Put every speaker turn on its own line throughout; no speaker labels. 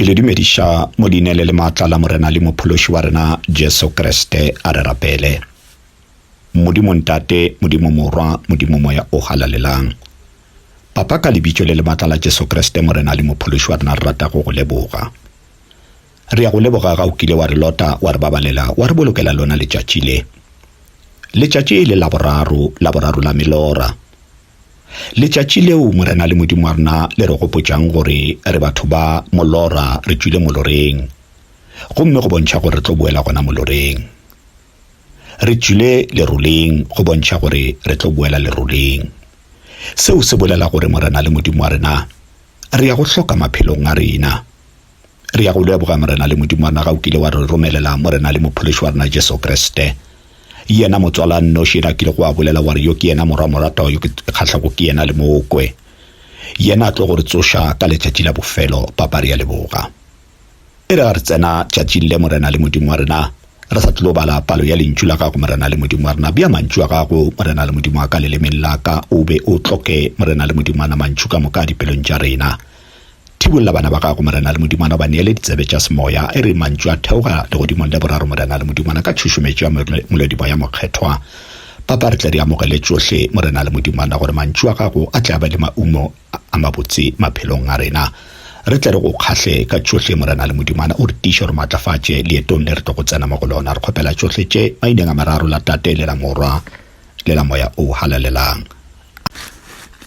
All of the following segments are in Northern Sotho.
Ke le dumediša mo leina le le maatla la Morena le Mophološi wa rena Jesu Kriste. A re rapele. Modimo Ntate, Modimo Morwa, Modimo Moya o Halalelang. Papa, ka lebitso le le maatla la Jesu Kriste, Morena le Mophološi wa rena, re rata go go leboga. Re ya go leboga ga o kile wa re lota, wa re babalela, wa re bolokela lona letšatši le. Letšatši le la boraro, la boraro la melora. Letšatši leo Morena le Modimo wa rena le re gopotšang gore re batho ba molora re tšwile moloreng, gomme go bontšha gore re tlo boela gona moloreng. Re tšwile leroleng go bontšha gore re tlo boela leroleng. Seo se bolela gore Morena le Modimo wa rena re ya go hloka maphelong a rena. Re ya go leboga, Morena le Modimo wa rena, ga o kile wa re romelela Morena le Mophološi wa rena Jesu Kriste, yena motswala nnoši yena a kile go a bolela wa re yo ke yena morwa moratwa yo ke kgahlako ke yena le mokwe yena a tlo go re tsoša ka letšatši la bofelo. Papa, re ya leboga. E re ga re tsena tšatšing le, Morena le Modimo wa rena, re sa tlo bala palo ya Lentšu la gago, Morena le Modimo wa rena, bea mantšu a gago, Morena le Modimo wa ka, lelemeng la ka, o be o tloke, Morena le Modimo wa rena, mantšu ka moka dipelong tša rena. Thibolla bana ba gago, Morena le Modimana, o ba neele ditsebe tša semoya. E re mantšu a theoga legodimong le boraro, Morena le Modimana, ka tšhušumetšo ya Molodimoya Mokgethwa. Papa, re tle re amogele tšohle, Morena le Modimana, gore mantšu a gago a tle a be le maumo a mabotse maphelong a rena. Re tle re go kgahle ka tšohle, Morena le Modimana, o re tiiše, o re matlafatše leetong le re tlo go tsena mo go lona. Re kgopela tšohle tše maineng a mararo, la Tate le la Morwa. le la Moya o Halalelang.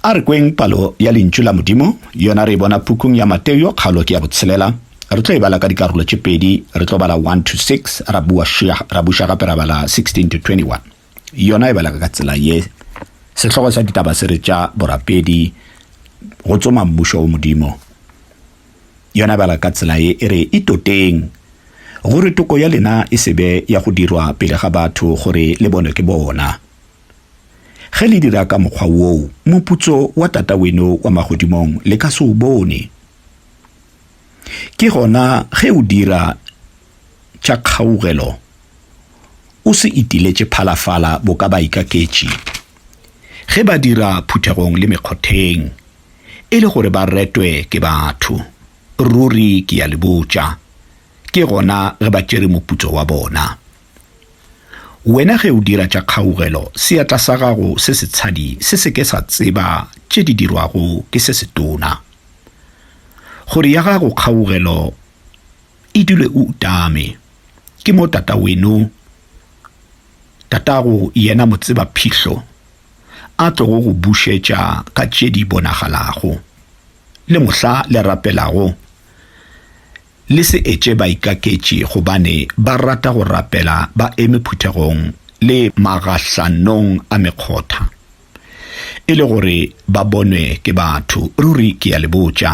A re kweng palo ya Lentšu la Modimo, yona re e bona pukung ya Mateo, kgaolo ke ya botshelela. Re tlo e bala ka dikarolo tše pedi, re tlo bala 1-6, ra bua šia, ra buša gape ra bala 16-21. Yona e bala ka tsela ye, Sehlogo sa ditaba se re tša borapedi go tsoma Mmušo wo Modimo. Yona bala ka tsela ye e re, Itoteng, gore toko ya lena e se be ya go dirwa pele ga batho gore le bonwe ke bona. Ge le dira ka mokgwa woo, moputso wa Tata weno wa magodimong le ka se o bone. Ke gona ge o dira tša kgaugelo, o se itiletše phalafala boka baikaketši, ge ba dira phuthegong le mekgotheng, e le gore ba retwe ke batho. Ruri ke ya le botša, ke gona ge ba tšere moputso wa bona. Wena ge o dira tša kgaugelo, seatla sa gago se setshadi se se ke sa tseba tše di dirwago ke se setona, gore ya gago kgaugelo E dule o utame. Ke mo tata weno, tatago yena motseba-phihlho, a tlogo go bušetša ka tše di bonagalago. Le mohla le rapelago, le se etše baikaketši gobane ba rata go rapela ba eme phuthegong le magahlanong a mekgotha, e le gore ba bonwe ke batho. Ruri ke a le botša.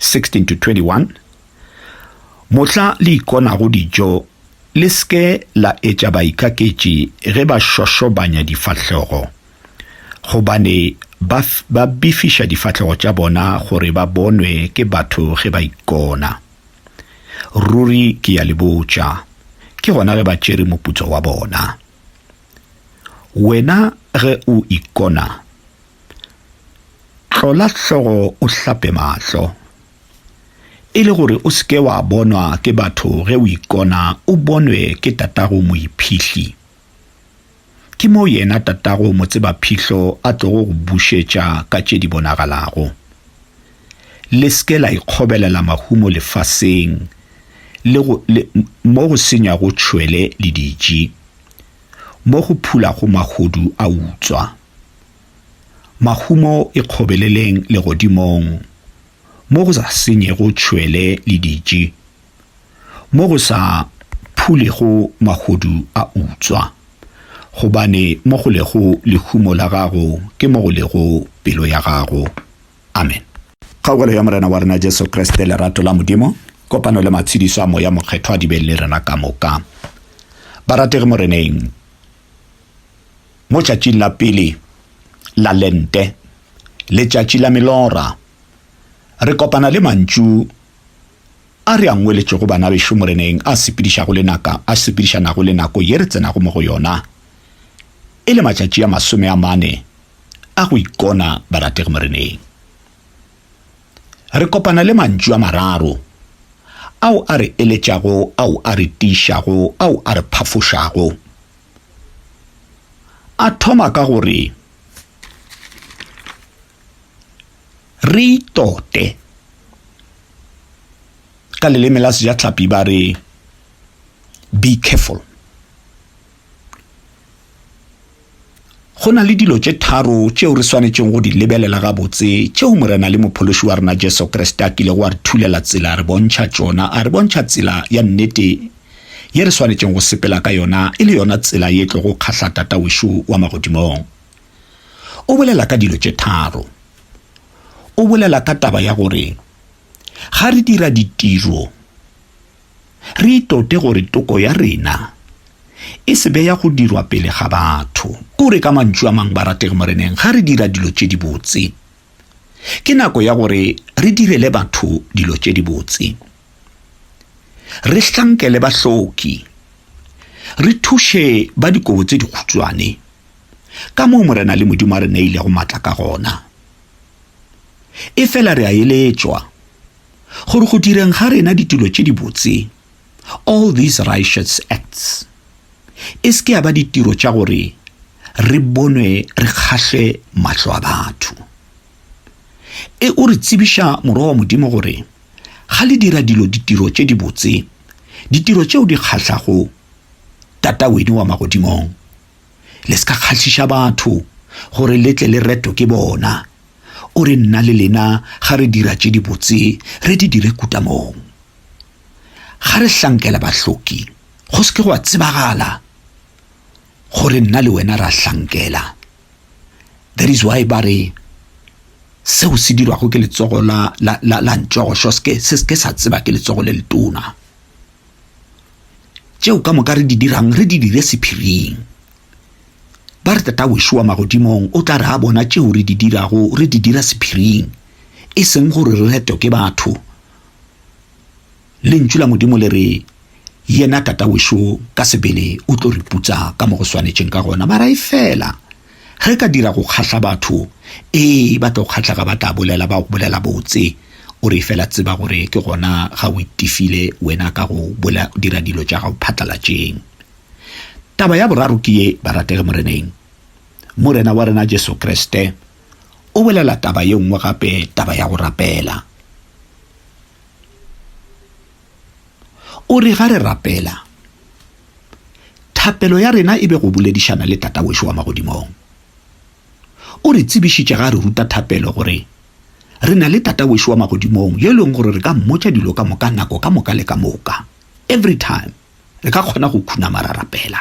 16-21, Mohla le ikonago dijo, le se ke la etša baikaketši ge ba šošobanya difahlego, gobane ba, ba bifiša difahlego tša bona gore ba bonwe ke batho ge ba ikona. Ruri ke ya le botša, ke gona ge ba tšere moputso wa bona. Wena ge o ikona, Hlola hlogo o hlape mahlo, e le gore o se ke wa bonwa ke batho ge o ikona o bonwe ke tatago moiphihli. Ke moo yena tatago motseba-phihlho a tlogo go bušetša ka tše di bonagalago. Le se ke la ikgobelela mahumo lefaseng le go, le, mo go senywago tšhwele le diji, mo go phulago mahodu a utswa. Mahumo ikgobeleleng legodimong, mo go sa senyego tšhwele le ditši, mo go sa phulego mahodu a utswa, gobane mo go lego lehumo la gago ke mo go lego pelo ya gago. Amen. Kgaogelo ya Morena wa rena Jesu Kriste, lerato la Modimo, kopano le matshedišo a Moya Mokgethwa di be le rena ka moka, barategi Moreneng. mo tšatšing la pele la Lente, Letšatši la Melora, re kopana le mantšu a re a ngweletšego bana bešo Moreneng a sepedišago le naka, a sepedišanago le nako ye re tsenago mo go yona, e le matšatši a masome a mane a go ikona barategi Moreneng. Re kopana le mantšu a mararo ao a re eletšago, ao a re tiišago, ao a re phafošago. A thoma ka go re, Re itote. Ka leleme la Sejatlhapi ba re, Be careful. Go na le dilo tše tharo tšeo re swanetšego go di lebelela gabotse tšeo Morena le Mophološi wa rena Jesu Kriste a kilego a re thulela tsela a re bontšha tšona, a re bontšha tsela ya nnete ye re swanetšego go sepela ka yona e le yona tsela ye tlogo kgahla Tata wešo wa magodimong. O bolela ka dilo tše tharo. O bolela ka taba ya gore ga re dira ditiro re itote gore toko ya rena e se be ya go dirwa pele ga batho. O re ka mantšu a mang, barategi Moreneng, ga re dira dilo tše dibotse, ke nako ya gore re direle batho dilo tše dibotse. Re hlankele bahloki. Re thuše ba dikobo tse dikhutšwane, ka moo Morena le Modimo a re neilego matla ka gona. Efela re a eletšwa gore go direng ga rena ditulo tše dibotse, all these righteous acts, e se ke ya ba ditiro tša gore re bonwe re kgahle mahlo a batho. E o re tsebiša Morwa wa Modimo gore Ga le dira dilo ditiro tše dibotse, ditiro tšeo di kgahlago Tata weno wa magodimong, le se ka kgahliša batho gore le tle le retwe ke bona. O re nna le lena ga re dira tše dibotse re di dire kutamong. Ga re hlankela bahloki go se ke gwa tsebagala gore nna le wena ra hlankela. That is why ba re seo se dirwago ke letsogo la, la, la, la ntšogo xo se ke sa tseba ke letsogo le letona tšeo ka moka re di dirang re di dire sephiring ba re tata wešo wa magodimong o tla re a bona tšeo re di dirago re di dira sephiring e seng gore re retwe ke batho Lentšu la Modimo le re, Yena Tata wešo ka sebele o tlo re putsa ka mo go swanetšeng ka gona. Mara efela, ge ka dira go kgahla batho, ee, ba tlo kgahla ga ba tla bolela, ba go bolela botse. O re efela tseba gore ke gona ga o itifile wena ka go dira dilo tša gago phatlalatšeng. Taba ya boraro ke ye, barategi Moreneng, Morena wa rena Jesu Kriste o bolela taba ye nngwe gape, taba ya go rapela. O re ga re rapela, thapelo ya rena e be go boledišana le Tata wešo wa magodimong. O re tsebišitše ga a re ruta thapelo gore re na le Tata wešo wa magodimong yo e leng gore re ka mmotša dilo ka moka nako ka moka le ka moka, every time re ka kgona go khunama ra rapela.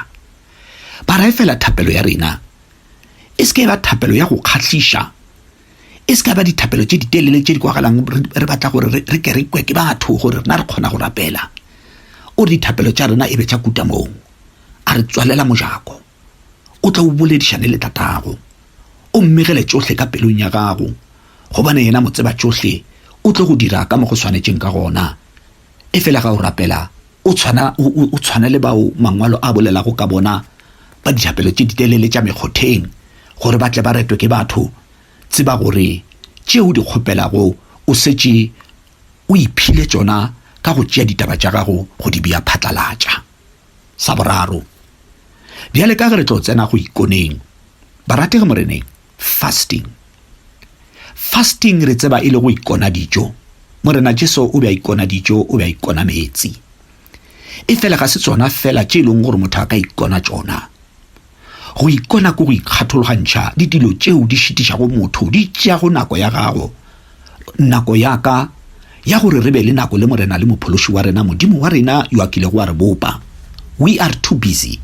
Ba ra efela thapelo ya rena e se ke ya ba thapelo ya go kgahliša, E se ka ba dithapelo tše ditelele tše di kwagalang re batla gore re ke re kwe ke batho gore rena re kgona go rapela. O re dithapelo tša rena e be tša kutamong. A re tswalela mojako. O tla o boledišane le Tatago. O mmegele tšohle ka pelong ya gago, gobane yena Motsebatšohle o tlo go dira ka mo go swanetšeng ka gona. Efela ga o rapela, o tshwana, o, o, o tshwana le bao Mangwalo a bolelago ka bona ba dithapelo tše ditelele tša mekgotheng, gore ba tle ba retwe ke batho. Tseba gore tše o di kgopelago o šetše o iphile tšona ka go tšea ditaba tša gago go di bea phatlalatša. Sa boraro. Bjale ka ge re tlo tsena go ikoneng, barategi Moreneng, Fasting. Fasting re tseba e le go ikona dijo. Morena Jesu o be a ikona dijo, o be a ikona meetsi. E fela ga se tsona fela tše e leng gore motho a ka ikona tsona. Go ikona ko go ikgathologantšha le dilo tšeo di šitišago motho, di tšeago nako ya gago. Nako ya ka ya gore re be le nako le Morena le Mophološi wa rena, Modimo wa rena yo a kilego wa re bopa. We are too busy.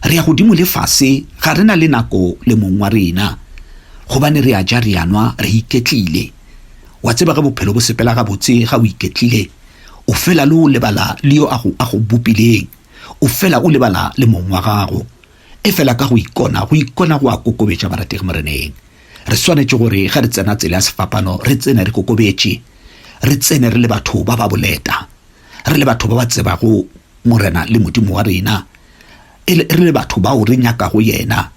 Re ya godimo le fase, ga re na le nako le mong wa rena, gobane re a ja, re a nwa, re iketlile. Wa tseba ge bophelo bo sepela gabotse, ga o iketlile, o fela le o lebala le yo a go, a go bopileng, o fela o lebala le mong wa gago. Efela ka go ikona, go ikona go a kokobetša, barategi Moreneng. Re swanetše gore ge re tsena tsela ya sefapano, re tsene re kokobetše, re tsene re le batho ba ba boleta, re le batho ba ba tsebago Morena le Modimo wa rena, e le, re le batho bao re nyakago Yena.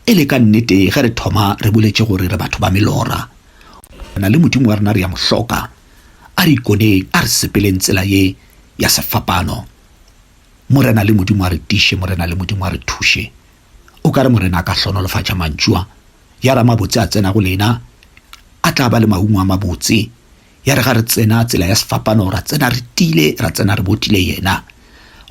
E le ka nnete, ge re thoma re boletše gore re batho ba melora, Morena le Modimo wa rena re a Mo hloka, a re ikoneng, a re sepeleng tsela ye ya sefapano. Morena le Modimo a re tiše, Morena le Modimo a re thuše. O ka re Morena a ka hlonolofatša mantšu a, ya ra mabotse a tsena go lena, a tla ba le maungo a mabotse. Ya re ga re tsena tsela ya sefapano, ra tsena re tile, ra tsena re botile yena,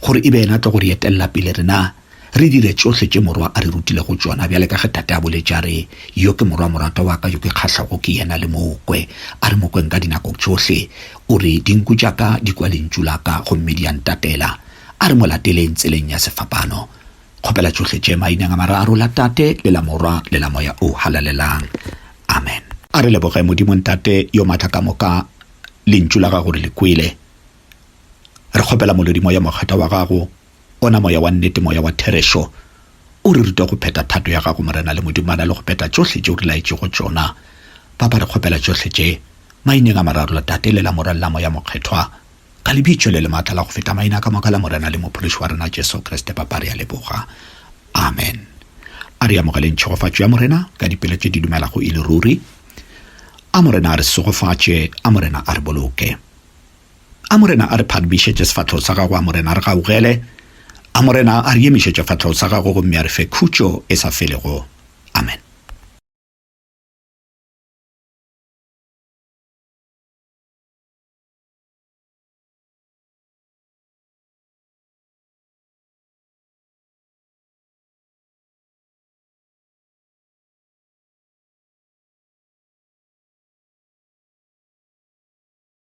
gore e be yena tlo go re etelela pele rena. Re dire tšohle tše Morwa a re rutilego tšona, bjale ka ge Tate a boletše a re, Yo ke Morwa moratwa wa ka yo ke kgahlago ke yena, le mo kwe. A re mo kweng ka dinako tšohle. O re, Dinku tša ka di kwa lentšu la ka, gomme di a ntatela. A re mo lateleng tseleng ya sefapano. Kgopela tšohle tše Maineng a mararo, la Tate, le la Morwa, le la Moya o Halalelang. Amen. A re leboge Modimo Ntate yo matla ka moka, Lentšu la Gago re le kwele. Re kgopela Molodimoya Mokgethwa wa Gago Ona Moya wa nnete, Moya wa therešo, o re ruta go phetha thato ya Gago, Morena, le modumana le go phetha tšohle tše O re laetšego tšona. Papa, re kgopela tšohle tše, Maineng a Mararo, la Tate, le la Morwa, le la Moya Mokgethwa, ka Lebitšo le le maatla la go feta maina ka moka la Morena le Mophološi wa rena Jesu Kriste. Papa, re a leboga. Amen. A re amogeleng tšhegofatšo ya Morena ka dipelo tše di dumelago e le ruri. A Morena a re segofatše. A Morena a re boloke. A Morena a re phadumišetše sefahlego sa gago, a Morena a re gaugele, a Morena a re emišetše sefahlego sa gago gomme a re fe khutšo e sa felego. Amen.